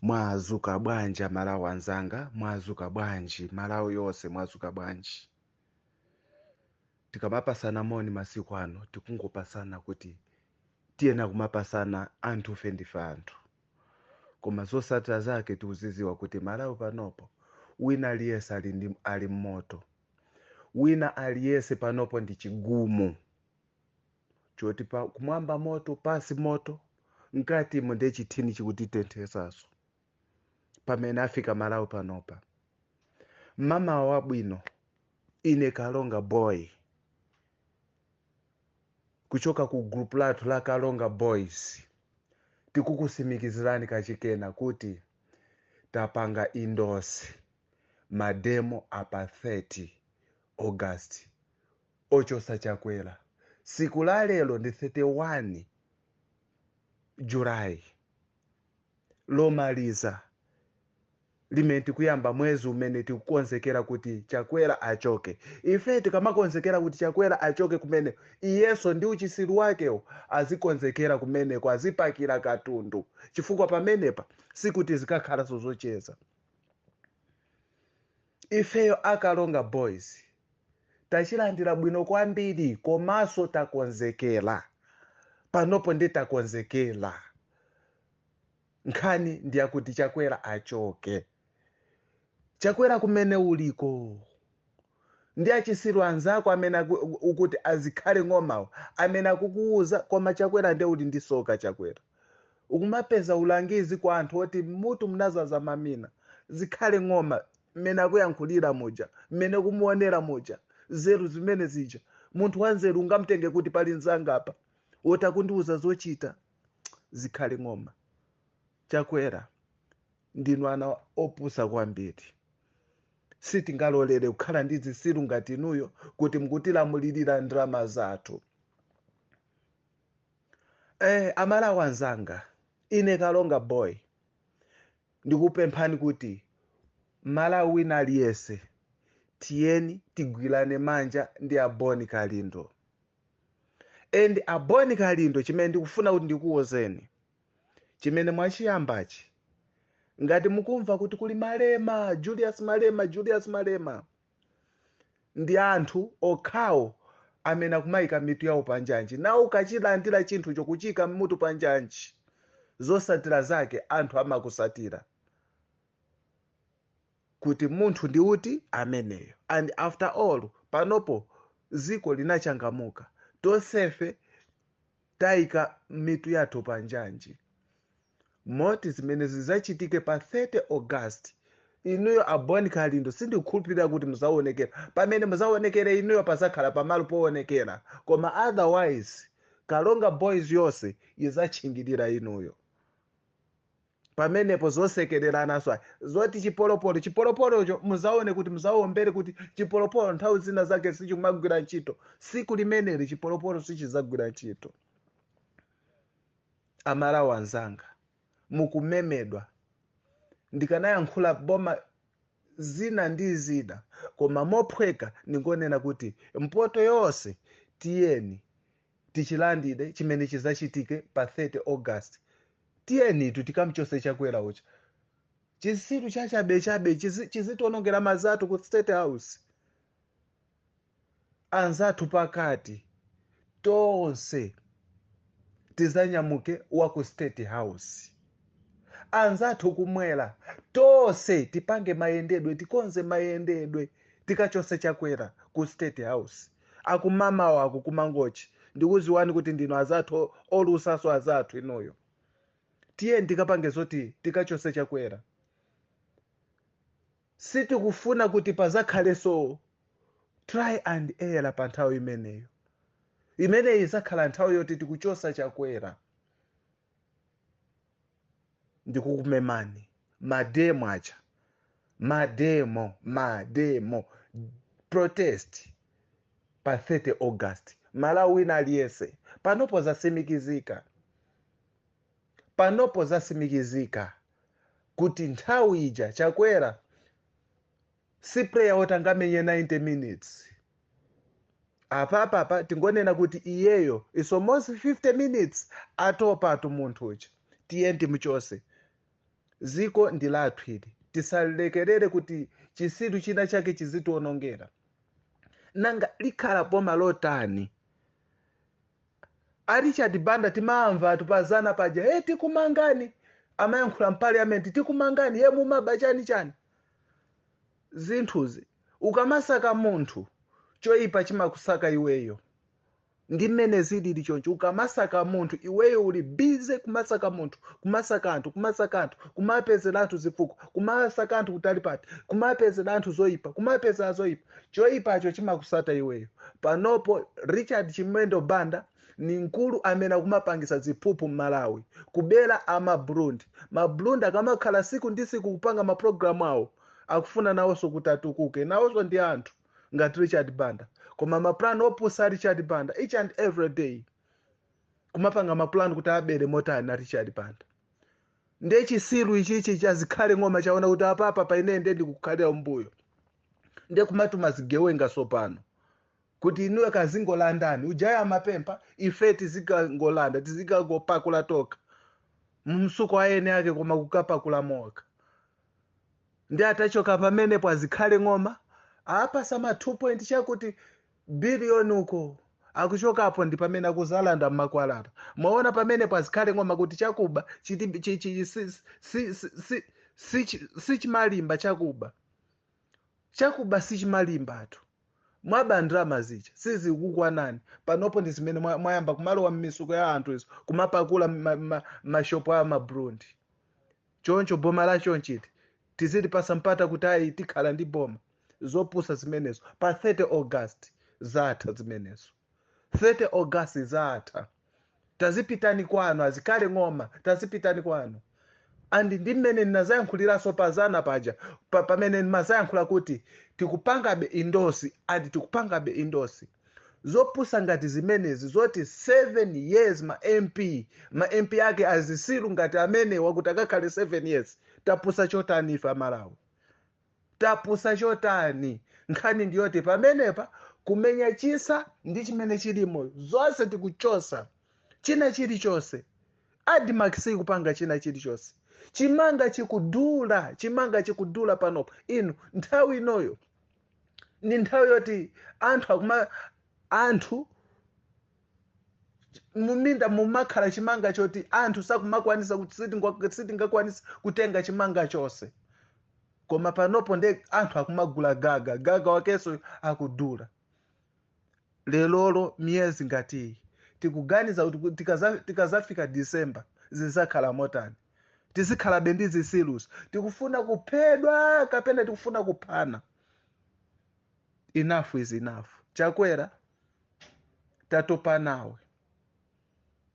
mwazuka bwanji amalawi anzanga mwazuka bwanji malawi yonse mwazuka bwanji tikamapasana moni masiku ano tikungopasana kuti tiyena kumapasana anthufe ndife anthu koma zosatira zake tikuziziwa kuti malawi panopo wina aliyense ali ndi- ali mmoto wina aliyense panopo ndi chigumu choti pa kumwamba moto pansi moto mkatimo ndiye chithing chikutitenthetsaso pamene afika malawi panopa mama wabwino ine karonga boy kuchoka ku group lathu la karonga boys tikukusimikizirani kachikena kuti tapanga endorse mademo apa 30 august Ochosa chakwela siku la lelo ndi 31 July lomaliza limene tikuyamba mwezi umene tikukonzekela kuti chakwela achoke ife tikamakonzekela kuti chakwela achoke kumene iyeso ndi uchisilu wakewo azikonzekela kumeneko azipakila katundu chifukwa pamenepa sikuti zikakhalaso zocheza Ifeyo a Karonga Boys tachilandira bwino kwambiri komanso takonzekera. Panopo ndiye takonzekera. Nkhani ndi yakuti Chakwera achoke. Chakwera kumene uliko ndi achisiru anzako amene aku- ukuti a Zikhale Ng'omawo amene akukuwuza koma Chakwera ndiye uli ndi soka Chakwera. Ukumapeza ulangizi kwa anthu oti mmutu munazaza mamina, Zikhale Ng'oma, mmene akuyankhulira muja, mmene ukumuonera muja, nzeru zimene zija. Munthu wanzeru ungamtenge kuti pali mzanga apa woti akundiuza zochita? Zikhale Ng'oma. Chakwera, ndinu ana opusa kwambiri. Sitingalolere kukhala ndi zisiru ngati inuyo kuti mukutilamulirira ndalama zathu. Eh, amalawi anzanga ine karonga boy ndikupemphani kuti malawi wina aliyese tiyeni tigwilane manja ndi a bon kalindo and a bon kalindo chimene ndikufuna kuti ndikuwuzeni chimene mwachiyambachi ngati mukumva kuti kuli malema julius malema julius malema Ndi anthu okhawo amene akumaika mitu yawo pa njanji. Nawo ukachilandira chinthucho kuchiika mutu pa njanji, zotsatira zake anthu amakutsatira kuti munthu ndi uti ameneyo. And after all, panopo dziko linachangamuka, tonsefe taika mitu yathu pa njanji. moti zimene zidzachitike pa 30 august inuyo a bon kalindo sindikukhulupirira kuti muzaonekera pamene muzaonekere inuyo pazakhala pamalo poonekera koma otherwise karonga boys yonse izatchingirira inuyo pamenepo zosekererananso zoti chipolopolo chipolopolocho muzaone kuti muzaombere kuti chipolopolo nthawi zina zake sichimagwira ntchito siku limeneli chipolopolo sichizagwira ntchito amalawi anzanga mukumemedwa ndikanayankhula boma zina ndi zina koma mophweka ndingonena kuti mpoto yonse tiyeni tichilandire chimene chizachitike pa 30 august tiyenitu tikamchose chakwera ucha chitsiru chachabechabe chizitionongera mazatu ku state house anzathu pakati tonse tizanyamuke wa ku state house anzathu kumwera tonse tipange mayendedwe tikonze mayendedwe tikachose chakwera ku state house akummawa aku mangochi ndikuziwani kuti ndinu azathu o- olusaso azathu inuyo tiyeni tikapange zoti tikachose chakwera Sitikufuna kuti padzakhalenso try and error pa nthawi imeneyo. Imeneyi idzakhala nthawi yoti tikuchotsa Chakwera. Ndikukumemani mademo ucha, mademo, mademo, protest pa 30 August. Mmalawi wina aliyense panopo zatsimikizika, panopo zatsimikizika. kuti nthawi ija chakwera si player woti angamenye 90 minutes apapapa tingonena kuti iyeyo is almost 50 minutes watopatu munthu uja tiyeni timuchose ziko ndi lathu ili tisalekerere kuti chisiru china chake chizitiwonongera nanga likhala boma lotani A Richard Banda timawamvatu pa zana paja hey, tikumangani amayankhula mpaliamenti tikumangani hey, mumaba chani chani zinthuzi ukamasaka munthu choipa chimakusaka iweyo ndi mmene zilili choncho ukamasaka munthu iweyo uli bize kumasaka munthu kumasaka anthu kumasaka anthu kumapezera anthu zifukwa kumasaka anthu kutali pati kumapezera anthu zoipa kumapezera zoipa choipacho chimakusata iweyo panopo richard chimwendo banda ni mkulu amene akumapangisa ziphuphu mmalawi kubera ama burundi maburundi akamakhala siku ndi siku kupanga mapulogalamu awo akufuna nawonso kuti atukuke nawonso ndi anthu ngati richard banda koma mapulani opusa a richard banda each and every day kumapanga mapulani kuti abere motani a richard banda nde chisiru ichichi cha Zikhale ng'oma chaona kuti apapa paine nde ndikukhalira mbuyo nde kumatuma zigewenga sopano kuti inuyo kazingolandani ujaya amapempha ife tizikangolanda tizikangopakula tokha mmisuko ayeni ake koma kukapakula mokha nde atachoka pamenepo a Zikhale ng'oma apasa ma 2 point chakuti Billion uko. Akuchokapo ndi pamene akuzalanda mmakwalala. Mwaona pamenepo a Zikhale Ng'oma kuti chakuba chi- sichimalimba chakuba. Chakuba sichimalimba atu. Mwaba ndalama zija sizikukwanani. Panopo ndi zimene mwa- mwayamba kumalowa mmisuko ya anthu izi kumapakula mashopo a mabrundi. Choncho boma la chonchili tizilipasa mpata kuti ayi tikhala ndi boma. Zopusa zimenezo. Pa 30 August zatha zimenezo. 30 August zatha. Tazipitani kwanu a Zikhale Ng'oma tazipitani kwanu. And ndi mmene ndinazayankhuliraso pazana paja pamene ndimazayankhula kuti tikupangabe endorse and tikupangabe endorse. zopusa ngati zimenezi zoti 7 years ma mp ma mp ake azisiru ngati amenewa kuti akakhale 7 years tapusa chotani ife amalawi tapusa chotani nkhani ndiyoti pamenepa kumenya chisa ndi chimene chilimo zonse tikuchosa china chilichonse admarc sikupanga china chilichonse chimanga chikudula chimanga chikudula panopo inu nthawi inoyo ndi nthawi yoti anthu akuma anthu muminda mumakhala chimanga choti anthu sakumakwanisa kuti sitinga- sitingakwanisa kutenga chimanga chonse koma panopo nde anthu akumagula gaga gaga wakenso akudula lelolo miyezi ngati iyi tikuganiza kuti ku- tikaza- tikazafika disemba zizakhala motani tizikhalabe ndi zisiluzo tikufuna kuphedwa kapena tikufuna kuphana enough is enough chakwera tatopa nawe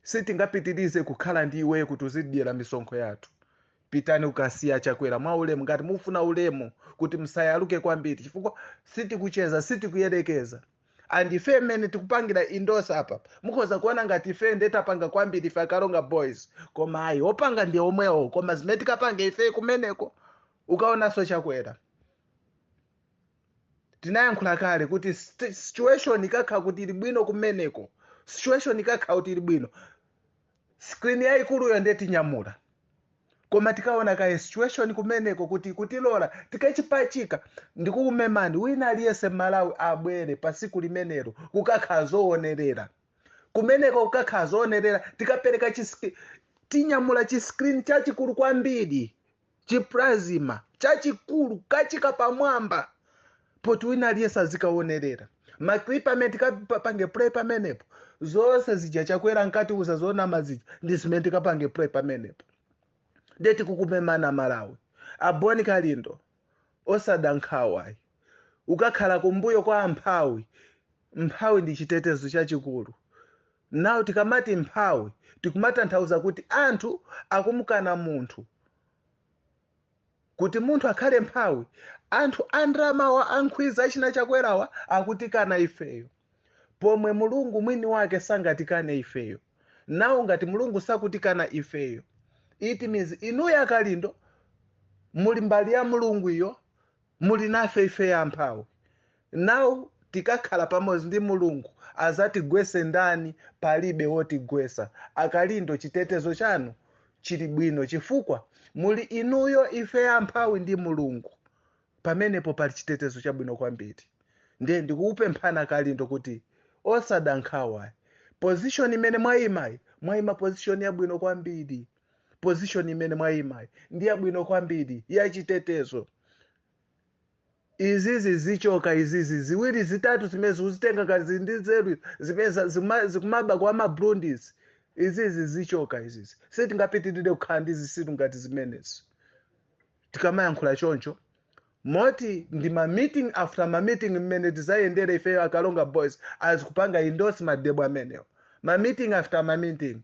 sitingapitirize kukhala ndi iwe kuti uzidyera misonkho yathu pitani ukasiya chakwera mwa ulemu ngati mufuna ulemu kuti musayaluke kwambiri chifukwa sitikucheza sitikuyerekeza and ife mmene tikupangira endorse apa mukhoza kuona ngati ife nde tapanga kwambiri ife a Karonga boys koma ayi opanga ndi omwewo koma zimene tikapange ife kumeneko ukaonanso Chakwera tinayankhula kale kuti st- situation ikakhala kuti ili bwino kumeneko situation ikakhala kuti ili bwino screen yayikuluyo nde tinyamula koma tikaona kaye situation kumeneko kuti kutilola tikachipachika ndikukumemani wina aliyense malawi abwere pa siku limenero kukakhala zoonerera kumeneko kukakhala zoonerera tikapereka chis- tinyamula chiskrini chachikulu kwambiri chiplasma chachikulu kupachika pamwamba poti wina aliyense azikaonerera maklipa amene tikapange play pamenepo zonse zija chakwera ankatiuza zonama zija ndi zimene tikapange play pamenepo nde tikukumemani aMalawi a Bon Kalindo osada nkhawa ayi ukakhala kumbuyo kwa mphawi mphawi ndi chitetezo chachikulu Now tikamati mphawi tikumatanthauza kuti anthu akumkana munthu kuti munthu akhale mphawi anthu andramawa ankhwiza achina chakwerawa akutikana ifeyo pomwe mulungu mwini wake sangatikane ifeyo now ngati mulungu sakutikana ifeyo it means inuyo a Kalindo muli mbali ya mulungu iyo Muli nafe ife amphawi now tikakhala pamodzi ndi mulungu azatigwese ndani palibe wotigwesa a Kalindo chitetezo chanu chili bwino chifukwa muli inuyo ife amphawi ndi mulungu pamenepo pali chitetezo chabwino kwambiri ndiye ndikukupemphani a Kalindo kuti osada nkhawa position imene mwaimayi mwaima position yabwino kwambiri. position imene mwayimayi ndi yabwino kwambiri yachitetezo izizi zichoka izizi ziwiri zitatu zimene zikuzitenga kazi ndi nzeru zimene za- zima- zikumaba kwa ma Burundis izizi zichoka izizi sitingapitirire kukhala ndi zisiru ngati zimenezi tikamayankhula choncho moti ndi ma meeting after ma meeting mmene tizayendere ifeyo a Karonga boys akupanga endorse mademo amenewo ma meeting after ma meeting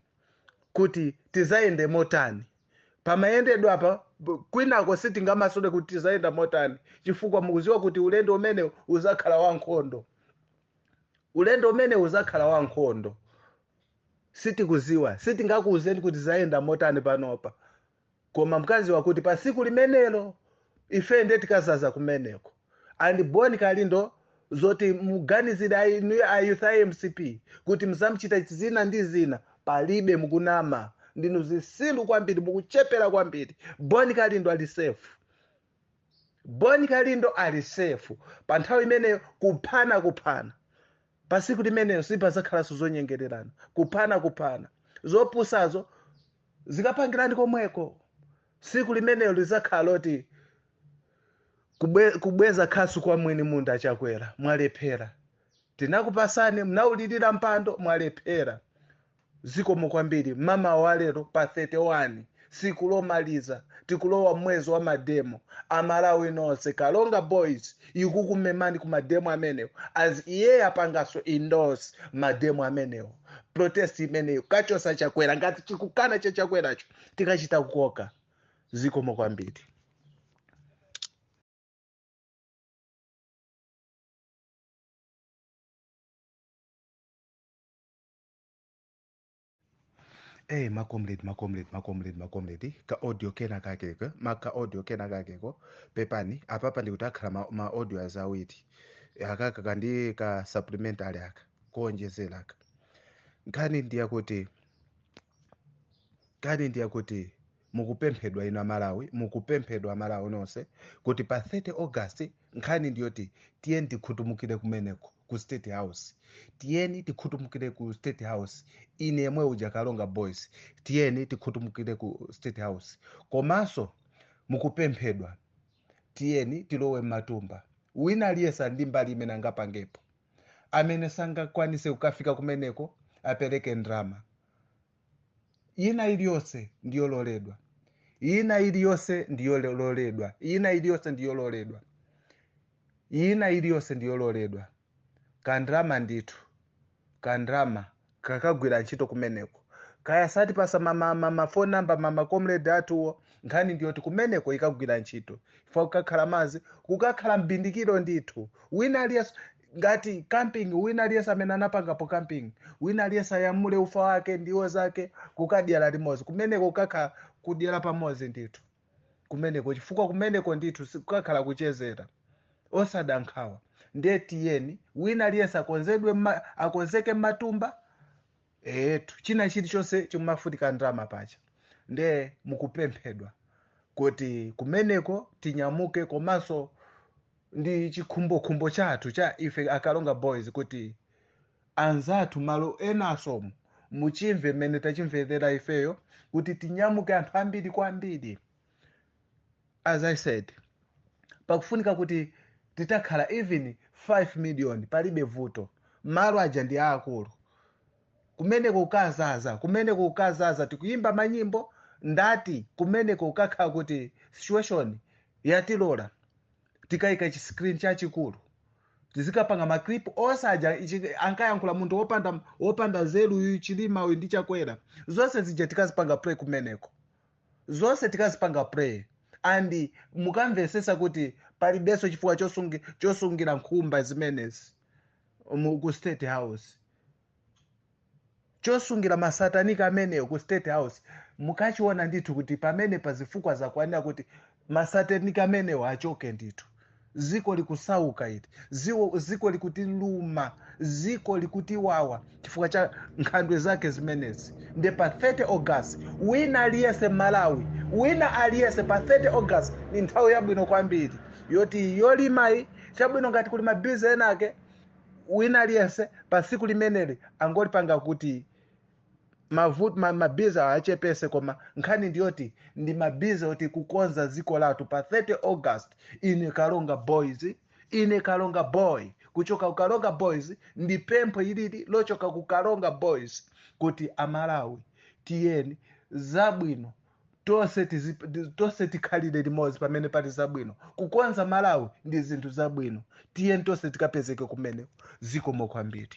kuti tizayende motani pamayendedwe apa kwinako sitingamasule kuti tizayenda motani chifukwa mukuziwa kuti ulendo umene uzakhala wankhondo ulendo umene uzakhala wankhondo sitikuziwa sitingakuuzeni kuti tizayenda motani panopa koma mukaziwa kuti pa siku limenelo ife nde tikazaza kumeneko and bon kalindo zoti muganizire a youth a mcp kuti muzamchita zina ndi zina palibe mukunama ndinu zisilu kwambiri mukuchepera kwambiri bon kalindo ali safe bon kalindo ali safe pa nthawi imeneyo kuphana kuphana pa siku limenelo sipazakhalanso zonyengererana kuphana kuphana zopusazo zikapangirani komweko siku limenelo lizakhala loti kubweza khasu kwa mwini munda achakwera mwalephera tinakupasani mnaulirira mpando mwalephera Zikomo kwambiri. Mamawa wa lero pa 31 tsiku lomaliza tikulowa mwezi wa mademo amalawi nonse karonga boys ikukumemani ku mademo amenewo asiye apangaso endorse mademo amenewo protest imeneyo kachosa chakwera ngati chikukana cha chakweracho tikachita kukoka zikomo kwambiri eyi macomrade macomrade macomrade macomrade ka audio kena kakeko ma ka audio kena kakeko pepani apapa ndikuti akhala ma, ma audio aja awiri akaka kandi ka supplementary aka kuonjezera aka nkhani ndiyakuti nkhani ndiyakuti mukupemphedwa inu amalawi mukupemphedwa amalawi nonse kuti pa 30 august nkhani ndiyoti tiyeni tikhutumukire kumeneko ku state house tiyeni tikhutumukire ku state house ine yemwe uja karonga boys tiyeni tikhutumukire ku state house komanso mukupemphedwa tiyeni tilowe m'matumba wina aliyese ali ndi mbali imene angapangepo amene sangakwanise kukafika kumeneko apereke ndrama ina iliyonse ndiyololedwa ina iliyonse ndiyololedwa ina iliyonse ndiyololedwa ina iliyonse ndiyololedwa kandrama ndithu kandrama kakagwira ntchito kumeneko kaya azatipasa mama mama phone number ma macomrade athuwo nkhani ndiyoti kumeneko ikagwira ntchito chifukwa kukakhala mazi kukakhala mbindikiro ndithu wina aliyense ngati camping wina aliyense amene anapangapo camping wina aliyense anyamule ufa wake ndiwo zake kukadyera limodzi kumeneko kukakhala kudyera pamodzi ndithu kumeneko chifukwa kumeneko ndithu sikukakhala kuchezera osada nkhawa ndiye tiyeni wina aliyense akonzeke mmatumba eti china chilichonse chimafunika ndalama paja ndiye mukupemphedwa kuti kumeneko tinyamuke komanso Ndi chikhumbokhumbo chathu cha ife a Karonga Boys kuti anzathu malo enaso muchimve mmene tachimverera ifeyo kuti tinyamuke anthu ambiri kwambiri. As I said, pakufunika kuti titakhala even 5 million palibe vuto. Malo aja ndi aakulu. Kumeneko kukazaza, kumeneko kukazaza tikuyimba manyimbo ndati kumeneko kukakhala kuti situation yatilola. tikaika chi screen chachikulu tizikapanga maklip onse aja ichi ankayankhula munthu wopanda wopanda nzeru uyu chilima uyu ndi chakwera zonse zija tikazipanga play kumeneko zonse tikazipanga play and mukamvetsetsa kuti palibenso chifukwa chosungi, chosungira nkhumba zimenezi mu- ku state house chosungira masataniki amenewo ku state house mukachiona ndithu kuti pamenepa zifukwa zakwanira kuti masataniki amenewo achoke ndithu ziko likusauka ili Ziwo- ziko likutiluma ziko likutiwawa chifukwa cha nkhandwe zake zimenezi nde pa 30 august wina aliyese malawi wina aliyese pa 30 august ni nthawi yabwino kwambiri yoti yolimayi chabwino ngati kuli mabize enake wina aliyense pa tsiku limeneli angolipanga kuti mavu- ma- mabize achepetse koma nkhani ndiyoti ndi mabize oti kukonza dziko lathu pa 30 august ine karonga boys ine karonga boy kuchoka ku karonga boys ndi pempho ilili lochoka ku karonga boys kuti amalawi tiyeni zabwino tonse tizipa- ndi- tonse tikhalire limodzi pamene pali zabwino kukonza malawi ndi zinthu zabwino tiyeni tonse tikapezeke kumeneko zikomo kwambiri